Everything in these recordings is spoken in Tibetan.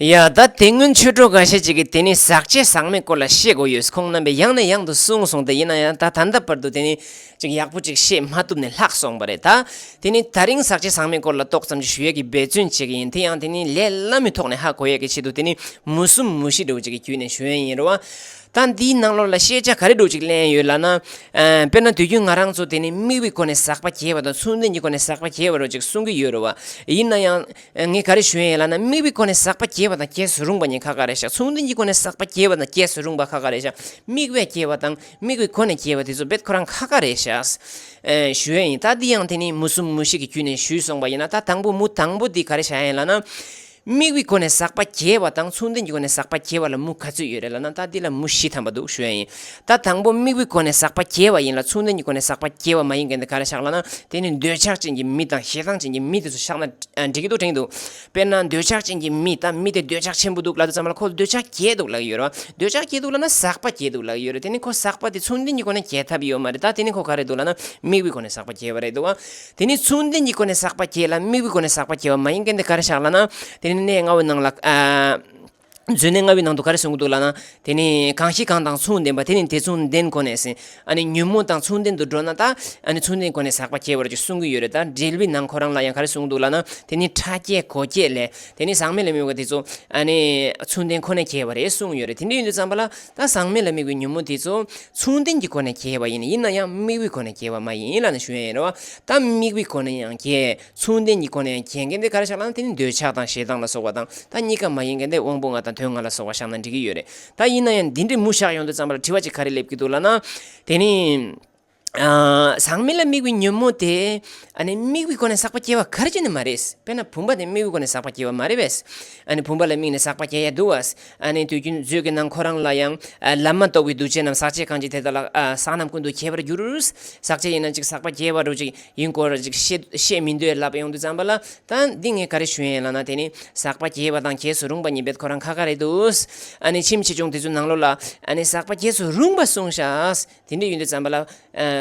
ཡ། ད་དེ་སྔོན་ཆོས་གྲོགས་འགའ་ཤས་ཅིག་གིས་དེ་ནི་ཟག་བཅས་ཟག་མེད་སྐོར་ལ་བཤད་དགོས་ཡོད་ཁོང་རྣམ་པས་ཡང་ནས་ཡང་དུ་གསུངས་སོང་སྟེ་ཡིན་ན་ཡང་ད་ད་ལྟ་བར་དུ་དེ་ནི་ཅིག་ཡག་པོ་ཅིག་བཤད་མ་ཐུབ་ནས་ལྷག་སོང་བ་རེད་ད། དེ་ནི་ད་རིང་ཟག་བཅས་ཟག་མེད་སྐོར་ལ་ཏོག་ཙམ་ཅིག་ཞུ་ཡས་ཀྱི་འབད་བརྩོན་བྱེད་ཀྱི་ཡིན་དེ་ཡང་དེ་ནི་ལས་སླ་མོའི་ཐོག་ནས་ཧ་གོ་ཡས་ཀྱི་ཆེད་དུ་དེ་ནི་མུ་གསུམ་མུ་བཞི་འགྲོ་ཅིག་གི་བརྒྱུད་ནས་ཞུ་ཡས་ཡིན་རུང་བ། ད་འདིའི་ནང་ལོགས་ལ་ཤེས་བྱ་ག་རེ་སྒྲུག་ཅིག་གླན་ཡོད་ལགས་ན། དཔེར་ན་དུས་རྒྱུན་ང་རང་ཚོ་དེ་ནི་དམིགས་བའི་སྒོ་ནས་ཟག་པ་བརྒྱད་པ་དང་མཚུངས་ལྡན་གྱི་སྒོ་ནས་ཟག་པ་བརྒྱད་པ་རོ་ཅིག་གསུངས་ཀྱི་ཡོད་རུང་བ། ཡིན་ན་ཡང། ངས་ག་རེ་ཞུས་ཡིན་ལབ་ན་དམིགས་པའི་སྒོ་ནས་ཟག་པ་སྐྱེ་བ་དང་སྐྱེ་སུ་རུང་བ་གཉིས་ཁ་ཁ་རེད་ཤག་མཚུངས་ལྡན་གྱི་སྒོ་ནས་ཟག་པ་སྐྱེ་བ་དང་སྐྱེ་སུ་རུང་བ་ཁ་ཁ་རེད་ཤག་དམིགས་པས་སྐྱེ་བ་དང་དམིགས་པའི་སྒོ་ནས་སྐྱེ་བ་དེ་ཚོ་རྦད་ཁོ་རང་ཁ་ཁ་རེད་ཤག་ཞུས་ཡ་ཡིན་ད་འདི་ཡང་དེ་ནི་མུ་གསུམ་མུ་བཞི་གི་དཀྱུས་ནས་ཞུས་སོང་བ་ཡིན་ན་ད་དང་པོ་མུ་དང་པོ་འདི་ག་རེ་བྱ་ཡ་ཡིན་ལབ་ན། དམིགས་པའི་སྒོ་ནས་ཟག་པ་སྐྱེ་བ་དང་མཚུངས་ལྡན་གྱི་སྒོ་ནས་ཟག་པ་སྐྱེ་བ་ལ་མུ་ག་ཚོད་ཡོད་རེད་ལབ་ན་ད་འདི་ལ་མུ་བཞི་ཐམ་པ་འདུག་ཞུས་ཡ་ཡིན་ད་དང་པོ་དམིགས་བུའི་སྒོ་ནས་ཟག་པ་སྐྱེ་བ་ཡིན་ལ་མཚུངས་ལྡན་གྱི་སྒོ་ནས་ཟག་པ་སྐྱེ་བ་མ་ཡིན་གན་དེ་ག་རེ་བཞག་ལ་ན་དེ་ནི་འདོད་ཆགས་ཅན་གྱི་མི་དང་ཞེ་སྡང་ཅན་གྱི་མི་དེ་ཚོ་བཞག་ན་འགྲིག་གི་འདུག་དྲན་གྱི་འདུག་དཔེར་ན་འདོད་ཆགས་ཅན་གྱི་མི་ད་མི་དེ་འདོད་ཆགས་ཆེན་པོ་འདུག་ལབ་ཏུ་བརྩམས་ལ་ཁོ་འདོད་ཆགས་སྐྱེས་འདུག་ལབ་ཡོད་རེད་བ་འདོད་ཆགས་སྐྱེས་འདུག་ལ་ན་ཟག་པ་སྐྱེས་འདུག་ལབ་ཡོད་རེད་དེ་ནི་ཁོ་ཟག་པ་དེ་མཚུངས་ལྡན་གྱི་སྒོ་ནས་སྐྱེ་ཐབས་ཡོད་མ་རེད་ད་དེ་ནི་ཁོ་ག་རེ་འདུག་ལ་ན་དམིགས་བུའི་སྒོ་ནས་ཟག་པ་སྐྱེ་བ་རེད་འདུག་བ་དེ་ནི་མཚུངས་ལྡན་གྱི་སྒོ་ནས་ཟག་པ་སྐྱེས་ལ་དམིགས་བུའི་སྒོ་ནས་ཟག་པ་སྐྱེ་བ་མ་ཡིན་གན་དེ་ག་རེ་བཞག་ལ་ན་དེ་ནི་གནས་ལྔ་བོའི་ནང་ལ་མཛོད་ནས་རྔ་བའི་ནང་དུ་ག་རེ་གསུངས་ཀྱི་འདུག་ལགས་ན། དེ་ནི་གང་ཞིག་གང་དང་མཚུངས་ལྡན་པ་དེ་ནི་དེ་མཚུངས་ལྡན་གོ་ནས་ཟིན། ཨ་ནི་ཉོན་མོངས་དང་མཚུངས་ལྡན་དུ་འགྲོ་ན་ད། ཨ་ནི་མཚུངས་ལྡན་གོ་ནས་ཟག་པ་སྐྱེ་བར་འགྱུར་གསུངས་ཀྱི་ཡོད་རེད་ད། འགྲེལ་བའི་ནང་ཁོ་རང་ལ་ཡང་ག་རེ་གསུངས་ཀྱི་འདུག་ལགས་ན། དེ་ནི་ཕྲ་སྐྱེས་གོ་སྐྱེས་ལས། དེ་ནི་ཟག་མེད་ལ་དམིགས་པ་དེ་ཚོ། ཨ་ནི། མཚུངས་ལྡན་ཁོ་ནས་སྐྱེ་བ་རེད་གསུངས་ཡོད་རེད་དེ་འདྲའི་ཡུལ་དུ་བརྩམས་པ་ལ། ད་ཟག་མེད་ལ་དམིགས་པའི་ཉོན་མོངས་དེ་ཚོ། མཚུངས་ལྡན་གྱི་གོ་ནས་སྐྱེ་བ་ཡིན་ཡིན་ན་ཡང་དམིགས་པའི་གོ་ནས་སྐྱེ་བ་མ་ཡིན་ལགས་ན་ཞུ་ཡ་ཡིན་རེད་བ། ད་དམིགས་པའི་གོ་ནས་ཡང་སྐྱེ། མཚུངས་ལྡན་གྱི་སྒོ་ནས་གྱེས་མཁན་དེ་གར་བཞག་ལ་དེ་ནི་འདོད་ཆགས་དང་ཞེ་སྡང་ལ་སོགས་པ་དང་ད་གཉིས་ཀ་མ་ཡིན་མཁན་དེ་དབང་པོ་ལྔ་དང་དོན་ལྔ་ལ་སོགས་པ་བཞག་ན་འགྲིག་གི་ཡོད་རེད་ད་ཡིན་ན་ཡང་འདི་འདྲའི་མུ་བཞག་ཡོང་དུ་བརྩམས་པ་ལ་དྲི་བ་ཅིག་ག་རེ་སླེབས་ཀྱི་འདུག་ལ་ན། དེ་ནི། ཟག་མེད་ལ་དམིགས་པའི་ཉོན་མོངས་དེ། ཨ་ནི་དམིགས་པའི་སྒོ་ནས་བསགས་པ་སྐྱེ་བ་གར་གྱི་ནི་མ་རེད། དཔེར་ན་བུམ་པ་དེ་དམིགས་པའི་སྒོ་ནས་བསགས་པ་སྐྱེ་བ་མ་རེད་པས། ཨ་ནི་བུམ་པ་ལ་དམིགས་ནས་བསགས་པ་སྐྱེ་ཡ་འདུག་བ། ཨ་ནི་དུས་རྒྱུན་མཛོད་ཀྱི་ནང་ཁོ་རང་ལ་ཡང། ལམ་མ་གཏོགས་པའི་འདུ་བྱེད་རྣམས་ཟག་བཅས་གང་ཅི་དེ་དག་ལ། ཟག་རྣམས་ཀུན་ཏུ་སྐྱེ་བར་འགྱུར། ཟག་བཅས་ཡིན་ན་ཅིག་ཟག་པ་སྐྱེ་བ་རུ་ཅིག་ཡིན་སྐོར་ཅིག་བཤད་མི་འདོད་ལབ་ཡོང་དུས་བརྩམས་པ་ལ། ད་འདི་ངས་ག་རེ་ཞུ་ཡན་ལགས་ན་དེ་ནི། ཟག་པ་སྐྱེ་བ་དང་སྐྱེས་སུ་རུང་བ་གཉིས་འབད་ཁོ་རང་ཁ་ཁ་རེད་འདུག། ཨ་ནི་ཁྱིམ་ཆེ་ཆུང་དེ་ཚོའི་ནང་ལོགས་ལ། ཨ་ནི་ཟག་པ་སྐྱེས་སུ་རུང་བ་གསུངས་ཤག། དེ་འདྲའི་ཡུལ་འདི་ཙམ་པ་ལ།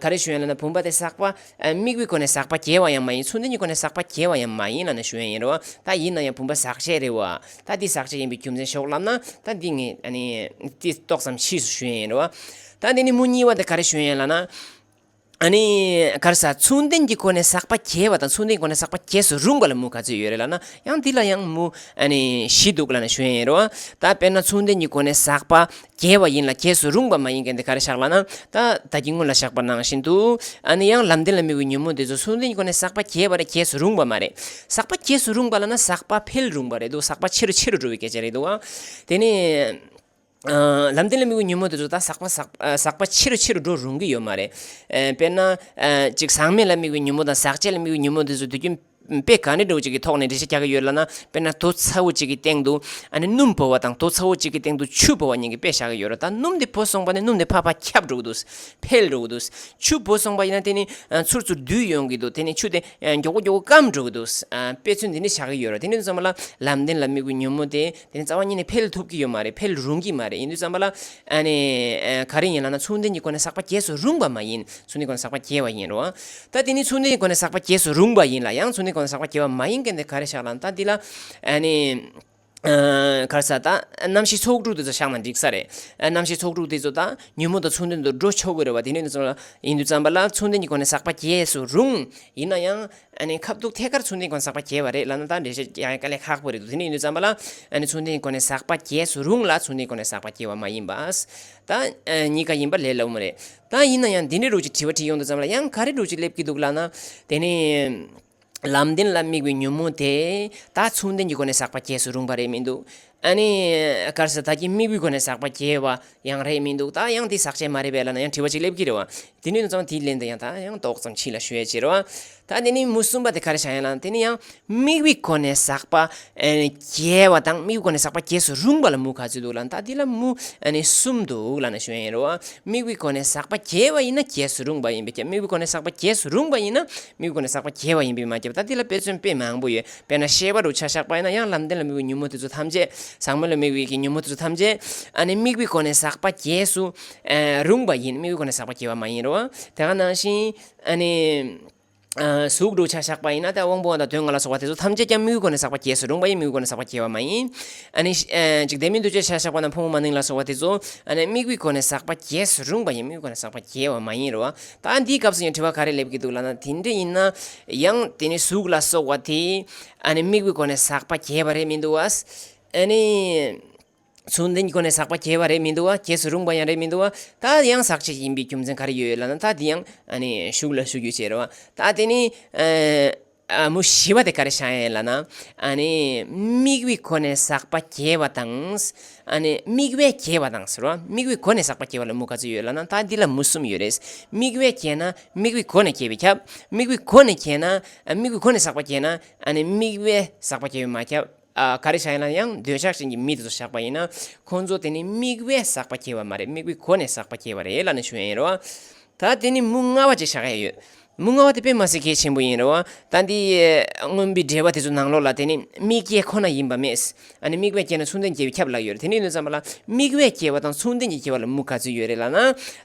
ག་རེ་ཞུ་ཡང་ལ་ན་བུམ་པ་དེ་ཟག་པ། དམིགས་པའི་སྒོ་ནས་ཟག་པ་སྐྱེ་བ་ཡང་མ་ཡིན་ཚུལ་འདི་གཉིས་སྒོ་ནས་ཟག་པ་སྐྱེ་བ་ཡང་མ་ཡིན་ལ་ན་ཞུ་ཡང་ཡིན་རུང་ད་ཡིན་ན་ཡང་བུམ་པ་ཟག་བྱེད་རེད་བ། ད་འདི་ཟག་བྱེད་ཡིན་པའི་རྒྱུ་མཚན་ཤོག་ལབ་ན། ད་འདི་ངས་འདི་ཏོག་ཙམ་ཕྱིས་སུ་ཞུ་ཡང་ཡིན་རུང་བ། ད་འདི་ནི་མུ་གཉིས་བ་འདི་ག་རེ་ཞུ་ཡང་ལ་ན། ག་རེ་ཟག་ཚུལ་འདི་གཉིས་སྒོ་ནས་ཟག་པ་སྐྱེ་བ་དང་ཚུལ་འདི་གཉིས་སྒོ་ནས་ཟག་པ་སྐྱེ་སུ་རུང་བ་ལ་མུ་ག་ཚོད་ཡོད་རེད་ལ་ན་ཡང་འདི་ལ་ཡང་མུ་བཞི་འདུག་ལ་ན་ཞུ་ཡང་ཡིན་རུང་བ། ད་དཔེར་ན་ཚུལ་འདི་གཉིས་སྒོ་ནས་ཟག་པ། རྒྱལ་བ་ཡིན་ལ་རྒྱས་སུ་རུང་བ་མ་ཡིན་གྱི་འདི་ག་རེ་བཞག་ལགས་ན། ད་ལྟ་ཀྱི་སྔོན་ལ་བཞག་པ་ནང་བཞིན་དུ། ཨ་ནི་ཡང་ལམ་བདེན་ལ་དམིགས་བའི་ཉོན་མོངས་དེ་ཚོ་སུན་འབྱིན་གྱི་སྒོ་ནས་ཟག་པ་རྒྱས་པ་རེ་རྒྱས་སུ་རུང་བ་མ་རེད། ཟག་པ་རྒྱས་སུ་རུང་བ་ལ་ན་ཟག་པ་འཕེལ་རུང་བ་རེད་འདུག་ཟག་པ་ཆེ་རུ་ཆེ་རུ་འགྲོ་བའི་སྐད་ཆ་རེད་འདུག་བ། དེ་ནི། ལམ་བདེན་ལ་དམིགས་བའི་ཉོན་མོངས་དེ་ཚོ་ད་ཟག་པ་ཟག་ཟག་པ་ཆེ་རུ་ཆེ་རུ་འགྲོ་རུང་གི་ཡོད་མ་རེད། དཔེར་ན། ཅིག་ཟག་མེད་ལ་དམིགས་བའི་ཉོན་མོངས་དང་ཟག་བཅས་ལ་དམིགས་བའི་ཉོན་མོངས་དེ་ཚོ་དུས་རྒྱུན། དཔེ་ག་ནས་འགྲོ་བ་ཅིག་གི་ཐོག་ནས་འགྲེལ་བཤད་རྒྱག་གི་ཡོད་ལ་ན་དཔེར་ན་དོ་ཚ་བོ་ཅིག་གི་སྟེང་དུ་ཨ་ནི་སྣུམ་བོ་བ་དང་དོ་ཚ་བོ་ཅིག་གི་སྟེང་དུ་ཆུ་བོ་བ་གཉིས་ཀྱི་དཔེ་བཞག་གི་ཡོད་རོ་ད་སྣུམ་དེ་བོ་སོང་པ་ནས་སྣུམ་དེ་ཕ་ཕ་ཁྱབ་འགྲོ་གི་འདུག་འཕེལ་འགྲོ་གི་འདུག་ཆུ་བོ་སོང་པ་ཡིན་ན་དེ་ནི་ཚུར་ཚུར་བསྡུས་ཡོང་གི་འདུག་དེ་ནི་ཆུ་དེ་མགྱོགས་པོ་མགྱོགས་པོ་སྐམ་འགྲོ་གི་འདུག་དཔེ་མཚོན་འདི་འདྲ་བཞག་གི་ཡོད་རོ་དེ་ནས་བཟུང་བ་ལ་ལམ་བདེན་ལ་དམིགས་པའི་ཉོན་མོངས་དེ་དེ་ནི་རྩ་བ་ཉིད་ནས་འཕེལ་ཐུབ་ཀྱི་ཡོད་མ་རེད་འཕེལ་རུང་གི་མ་རེད་ཡིན་དུས་བསམ་པ་ལ། ག་རེ་ཡིན་ལགས་ན་ཚུལ་ལྡན་གྱི་སྒོ་ནས་བསགས་པ་རྒྱས་སུ་རུང་བ་མ་ཡིན། ཚུལ་ལྡན་གྱི་སྒོ་ནས་བསགས་པ་རྒྱས་བ་ཡིན་རུང། ད་དེ་ནི་ཚུལ་ལྡན་གྱི་སྒོ་ནས་བསགས་པ་རྒྱས་སུ་རུང་བ་ཡིན་ལ་ཡང་ཚུལ་ལྡན་གྱི་སྒོ་ནས་བསགས་པ་རྒྱས་བ་མ་ཡིན་མཁན་དེ་ག་རེ་བཞག་ལགས་ན་ད་འདི་ལ། ག་རེ་ཟ་ད་རྣམ་ཤེས་ཚོགས་དྲུག་དེ་ཚོ་བཞག་ན་འགྲིག་ས་རེད། རྣམ་ཤེས་ཚོགས་དྲུག་དེ་ཚོ་ད་ཉོན་མོངས་དང་ཚུལ་ལྡན་དུ་འགྲོ་ཆོག་གི་རེད་བ་དེ་ནི་ཡིན་དུས་བསམ་པ་ལ་ཚུལ་ལྡན་གྱི་སྒོ་ནས་བསགས་པ་རྒྱས་སུ་རུང། ཡིན་ན་ཡང། ཁ་བཏུག་ཐད་ཀར་ཚོན་ལྡན་གོ་ནས་ཟག་པ་རྒྱས་པ་རེད་ལབ་ན་ད་འགྲེལ་བཤད་ཀྱང་དཀའ་ལས་ཁག་པོ་རེད་འདུག་དེ་ནས་ཡིན་དུས་བརྩམས་པ་ལ། ཚོན་ལྡན་གོ་ནས་ཟག་པ་རྒྱས་སུ་རུང་ལ་ཚོན་ལྡན་གོ་ནས་ཟག་པ་རྒྱས་བ་མ་ཡིན་པས། ད། གཉིས་ཀ་ཡིན་པ་ལས་སླ་བོ་མ་རེད། ད་ཡིན་ན་ཡང་འདི་འདྲའི་རུ་གཅིག་དྲི་བ་དྲིས་ཡོང་དུས་བརྩམས་པ་ལ་ཡང་ག་རེ་རུ་གཅིག་སླེབས་ཀྱི་འདུག་ལགས་ན། དེ་ནི། ལམ་བདེན་ལ་དམིགས་པའི་ཉོན་མོངས་དེས། ད་ཚོན་ལྡན་གྱི་གོ་ནས་ཟག་པ་རྒྱས་སུ་རུང་བ་རེད་མི་འདུག། ཨ་ནི། སྐར་ས་ད་ཀྱི་དམིགས་བུའི་སྒོ་ནས་ཟག་པ་སྐྱེ་བ་ཡང་རེད་མི་འདུག་ད་ཡང་དེ་ཟག་བཅས་མ་རེད་པའི་བླ་ན་ཡང་དྲི་བ་གཅིག་སླེབས་ཀྱི་རེད་བ། དེ་ནུས་ན་ཙང་དེའི་ལན་དུ་ཡང་ད་ཡང་ཏོག་ཙམ་ཕྱི་ལ་ཞུ་ཡ་ཅེར་བ། ད་དེ་ནི་མུ་གསུམ་པ་དེ་ག་རེ་བྱ་ཡ་ལ་དེ་ནི་ཡང་དམིགས་བུའི་སྒོ་ནས་ཟག་པ། སྐྱེ་བ་དང་དམིགས་བུའི་སྒོ་ནས་ཟག་པ་སྐྱེ་སོ་རུང་བ་ལ་མུ་ག་ཚོད་འདུག་ལ་ད་དེ་ལ་མུ། གསུམ་འདུག་བླ་ན་ཞུ་ཡ་ཡིན་རོ། དམིགས་བུའི་སྒོ་ནས་ཟག་པ་སྐྱེ་བ་ཡིན་ན་སྐྱེ་སོ་རུང་བ་ཡིན་པས་སྐྱེ་དམིགས་བུའི་སྒོ་ནས་ཟག་པ་སྐྱེ་སོ་རུང་བ་ཡིན་ན་དམིགས་བུའི་སྒོ་ནས་ཟག་པ་སྐྱེ་བ་ཡིན་པས་མ་སྐྱེ་བ་ད་དེ་ལ་དཔེ་མཚོན་དཔེ་མང་པོ་ཡོད་དཔེར་ན་ཤེས་པ་རུ་ཆ་བཞག་པ་ཡིན་ན་ཡང་ལམ་བདེན་ལ་དམིགས་པའི་ཉོན་མོངས་དེ་ཚོ་ཐམས་ཅད་ཟག་མེད་ལ་དམིགས་པའི་ཉོན་མོངས་དེ་ཚོ་ཐམས་ཅད་ཨ་ནི་དམིགས་པའི་སྒོ་ནས་ཟག་པ་རྒྱས་སུ་རུང་བ་ཡིན་དམིགས་པའི་སྒོ་ནས་ཟག་པ་རྒྱས་པ་མ་ཡིན་རུང་དེ་ག་ནང་བཞིན་ཨ་ནི་གཟུགས་རུ་ཆ་བཞག་པ་ཡིན་ན་དེ་དབང་པོ་འམ་དོན་ལྔ་ལ་སོགས་པ་དེ་ཚོ་ཐམས་ཅད་ཀྱང་དམིགས་པའི་སྒོ་ནས་ཟག་པ་རྒྱས་སུ་རུང་བ་ཡིན་དམིགས་པའི་སྒོ་ནས་ཟག་པ་རྒྱས་པ་མ་ཡིན། ཨ་ནི་འཇིག་རྟེན་མིན་འདུ་བྱེད་ཆ་བཞག་པ་ན་ཕུང་པོ་མ་ནིང་ལ་སོགས་པ་དེ་ཚོ་ཨ་ནི་དམིགས་པའི་སྒོ་ནས་ཟག་པ་རྒྱས་སུ་རུང་བ་ཡིན་དམིགས་པའི་སྒོ་ནས་ཟག་པ་རྒྱས་པ་མ་ཡིན་རུང་ད་འདིའི་སྐབས་སུ་ཡང་དྲི་བ་ག་རེ་སླེབས་ཀྱི་འདུག་ལགས་ན་དེ་འདྲ་ཡིན་ན་ཡང་དེ་ནི་གཟུགས་ལ་སོགས་བ་དེ་དམིགས་པའི་སྒོ་ནས་ཟག་པ་སྐྱེས་པ་རེད་མི་འདུག་བ། མཚུངས་ལྡན་གྱི་སྒོ་ནས་ཟག་པ་སྐྱེས་པ་རེད་མི་འདུག་བ་སྐྱེས་སུ་རུང་བ་ཡང་རེད་མི་འདུག་བ། ད་ཡང་ཟག་བཅས་ཡིན་པའི་རྒྱུ་མཚན་ག་རེ་ཡོད་ལགས་ན་ད་དེ་ཡང་ཞུགས་ལ་ཞུ་རྒྱུ་བྱེད་རོགས། ད་དེ་ནི། མུ་བཞི་བ་དེ་ག་རེ་བྱ་ཡིན་ལ་ན། དམིགས་བུའི་སྒོ་ནས་ཟག་པ་སྐྱེ་བ་དང། དམིགས་བས་སྐྱེ་བ་དང་ཟེར་རོ། དམིགས་བུའི་སྒོ་ནས་ཟག་པ་སྐྱེ་བ་ལ་མུ་ག་ཚོད་ཡོད་ལ་ན། ད་འདི་ལ་མུ་གསུམ་ཡོད་རེད། དམིགས་བས་སྐྱེས་ན་དམིགས་བུའི་སྒོ་ནས་སྐྱེ་བས་ཁྱབ། དམིགས་བུའི་སྒོ་ནས་སྐྱེས་ན། དམིགས་བུའི་སྒོ་ནས་ཟག་པ་སྐྱེས་ན། དམིགས་བས་ཟག་པ་སྐྱེ་བས་མ་ཁྱབ། ག་རེ་བྱ་ཡིན་ན་ཡང་འདོད་ཆགས་ཅན་གྱི་མི་དེ་ཚོ་བཞག་པ་ཡིན་ན། ཁོང་ཚོ་དེ་ནི་དམིགས་བས་བསགས་པ་སྐྱེ་བ་མ་རེད་དམིགས་བུའི་གོ་ནས་བསགས་པ་སྐྱེ་བ་རེད་ལ་ནི་ཞུ་ཡ་ཡིན་རུང་བ། ད་དེ་ནི་མུ་ང་བ་ཅིག་བཞག་ཡ་ཡོད། མུ་ང་བ་དེ་དཔེ་མ་ཟད་གལ་ཆེན་པོ་ཡིན་རུང་བ། ད་འདི་སྔོན་པོའི་འགྲེལ་བ་དེ་ཚོ་ནང་ལོགས་ལ་དེ་ནི་དམིགས་སྐྱེ་ཁོ་ན་ཡིན་པ་མེད། ཨ་ནི་དམིགས་བས་སྐྱེ་ན་མཚུངས་ལྡན་སྐྱེ་བའི་ཁྱབ་ལ་ཡོད་རེད་དེ་ནི་ལོས་བརྩམས་པ་ལ་དམིགས་བས་སྐྱེ་བ་དང་མཚུངས་ལྡན་གྱི་སྐྱེ་བ་ལ་མུ་ག་ཚོད་ཡོད་རེད་ལ་ན།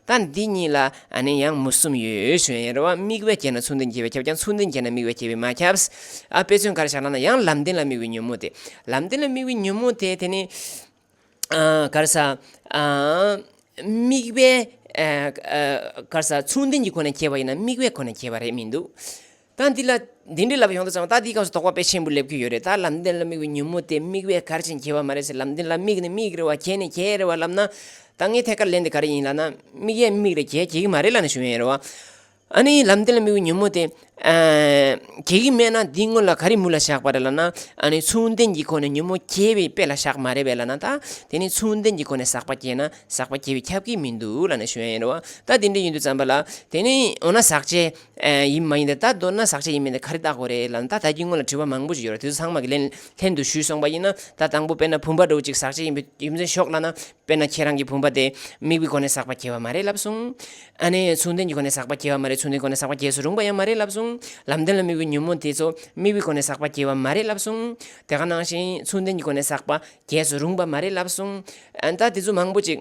ད་འདི་གཉིས་ལ་ཨ་ནི་ཡང་མུ་གསུམ་ཡོད་ཞོན་ཡང་རེ་བ་དམིགས་བས་བསྐྱེད་ན་ཚུར་འདུན་བསྐྱེད་པས་ཁྱབ་ཀྱང་ཚུར་འདུན་བསྐྱེད་ན་དམིགས་བས་བསྐྱེད་པས་མ་ཁྱབ། ཨ་དཔེ་མཚོན་གར་བཞག་ལ་ན་ཡང་ལམ་བདེན་ལ་དམིགས་བའི་ཉོན་མོངས་ཏེ། ལམ་བདེན་ལ་དམིགས་བའི་ཉོན་མོངས་དེ་དེ་ནི། གར་ས། དམིགས་བས། གར་ས། ཚུར་འདུན་གྱི་ཁོ་ནས་བསྐྱེད་པ་ཡིན་ན་དམིགས་བས་ཁོ་ནས་བསྐྱེད་པ་རེད་མི་འདུག། ད་འདི་ལ་འདི་འདྲའི་ལབ་ཡོང་དུ་ཙང་ད་འདིའི་སྐབས་སུ་དོགས་པ་དཔེ་ཆེན་པོ་སླེབས་ཀྱི་ཡོད་རེད་ད་ལམ་འདི་ལ་དམིགས་པའི་ཉིན་མོ་དེ་དམིགས་པའི་གར་ཅན་གྱི་བ་མ་རེད་ཟེར་ལམ་འདི་ལ་དམིགས་ནས་དམིགས་རེད་བ་གྱེས་ནས་གྱེས་རེད་བ་ལབ་ན། ད་ངས་ཐད་ཀར་ལན་འདི་ག་རེ་ཡིན་ལབ་ན་དམིགས་ཡས་དམིགས་རེད་གྱེས་གྱེས་ཀྱི་མ་རེད་ལབ་ན་ཞུ་ཡས་རེད་བ། ཨ་ནི་ལམ་འདི་ལ་དམིགས་པའི་ཉིན་མོ་དེ། གྱེས་ཀྱི་མེད་ན་འདི་སྔོན་ལ་ག་རེ་མུ་ལ་བཞག་པ་རེད་ལབ་ན། ཨ་ནི་མཚུངས་ལྡན་གྱི་སྒོ་ནས་ཉིན་མོ་གྱེས་པའི་དཔེ་ལ་བཞག་མ་རེད་བས་ལབ་ན་ད། དེ་ནི་མཚུངས་ལྡན་གྱི་སྒོ་ནས་ཟག་པ་གྱེས་ན་ཟག་པ་གྱེས་པའི་ཁྱབ་ཀྱི་མི་འདུག་ལབ་ན་ཞུ་ཡས་རེད་བ། ད་འདི་འདྲའི་ཡིན་དུ་ཙང་བ་ལ། དེ་ནི་འོ་ན་ཟག་བཅས། ཡིན་མ་ཡིན་དེ་ལྟར་འདོད་ན་ཟག་བཅས་ཡིན་མིན་དེ་ག་རེ་བརྟག་དགོས་རེད་ལབ་ན་ད་ད་གྱི་སྔོན་ལ་དྲི་བ་མང་པོ་ཞིག་ཡོད་རེད་དུས་ཚང་མ་གི་ལན་ལྷན་དུ་ཞུས་སོང་པ་ཡིན་ན་ད་དང་པོ་དཔེར་ན་བུམ་པ་དྲུག་ཅིག་ཟག་བཅས་ཡིན་པའི་རྒྱུ་མཚན་ཤོག་ལབ་ན་དཔེར་ན་ཁྱེད་རང་གི་བུམ་པ་དེ་དམིགས་པའི་སྒོ་ནས་ཟག་པ་སྐྱེ་བ་མ་རེད་ལབ་སོང། ཨ་ནས་མཚུངས་ལྡན་གྱི་སྒོ་ནས་ཟག་པ་སྐྱེ་བ་མ་རེད་མཚུངས་ལྡན་སྒོ་ནས་ཟག་པ་སྐྱེ་སུ་རུང་པ་ཡང་མ་རེད་ལབ་སོང། ལམ་བདེན་ལ་དམིགས་པའི་ཉོན་མོངས་དེ་ཚོ་དམིགས་པའི་སྒོ་ནས་ཟག་པ་སྐྱེ་བ་མ་རེད་ལབ་སོང། དེ་ག་ནང་བཞིན་མཚུངས་ལྡན་གྱི་སྒོ་ནས་ཟག་པ་སྐྱེ་སུ་རུང་པ་མ་རེད་ལབ་སོང། ད་དེ་ཚོ་མང་པོ་ཅིག།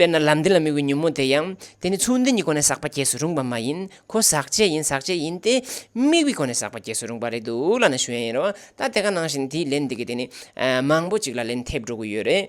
དཔེར་ན་ལམ་འདི་ལ་དམིགས་པའི་ཉོན་མོངས་དེ་ཡང་དེ་ནི་ཚུལ་འདི་ཉིད་ཁོ་ནས་ཟག་པ་སྐྱེས་སུ་རུང་བ་མ་ཡིན་ཁོ་ཟག་བཅས་ཡིན་ཟག་བཅས་ཡིན་ཏེ། དམིགས་པའི་ཁོ་ནས་ཟག་པ་སྐྱེས་སུ་རུང་བ་རེད་འདུག་བླ་ན་ཞུ་ཡན་ཡིན་རུང་ད་དེ་ག་ནང་བཞིན་དེའི་ལན་འདི་གི་དེ་ནི་མང་པོ་ཅིག་ལ་ལན་ཐེབས་འགྲོ་གི་ཡོད་རེད།